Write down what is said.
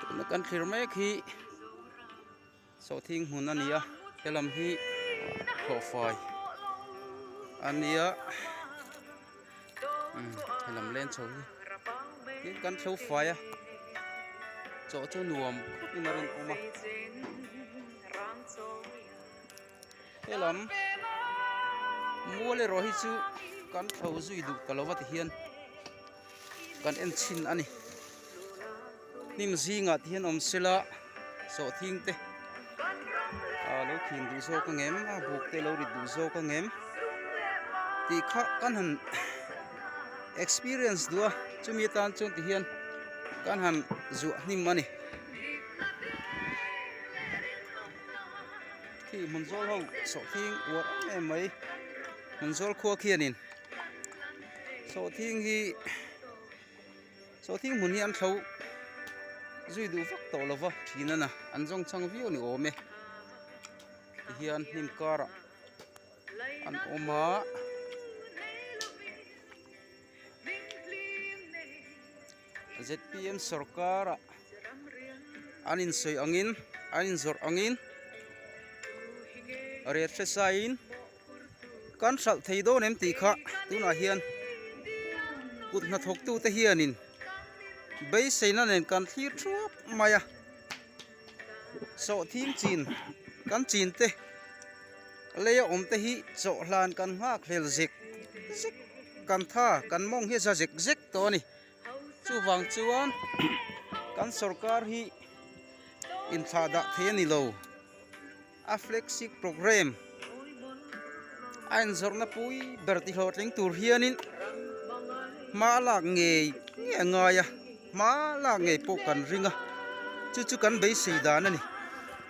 tuna kan thlir mek hi sawhthing hmun a ni a he lam hi hlawhfai a nia umm he lam len chho hi tin kan thlo fai a chaw chu nuam khawpin a rawn awm a. Helam Mual erawh hi chu kan tho zui duh ta lo va ti hian kan en chhin a ni. Hnim zingah ti hian awm sela sawh thing te a lo thin duh zawk a ngem a buk te lo rit duh zawk a ngem ti kha kan han experience duh a chumi atan chuan ti hian kan han zuah hnim a ni. khi hmun zawl ho sawhthing uar em em mai hmun zawl khua khianin sawhthing hi sawhthing hmun hi an thlo zui duh vak tawh lo va thin ana an zawng chang viau ni awm e ti hian hnim karah an awm a ZPM sawrkara an insawi angin, an inzawrh angin riat hre saiin kan hralh thei dawn em tih kha tunah hian kut hnathawktute hianin beiseina nen kan thlir thuap mai a, sawhthim chin kan chin te lei a awm te hi chawhlan kan nghak hlel zek zek kan tha kan mawng hi a za zek zek tawh a ni. Chuvang chuan kan sorkar hi inthlah dah thei a ni lo. A flagship programme a inzawrhna pui ber tihlawh tling tur hianin hma a lak ngei nge a ngai a, hma lak ngei pawh kan ring a, chu chu kan beisei dan a ni.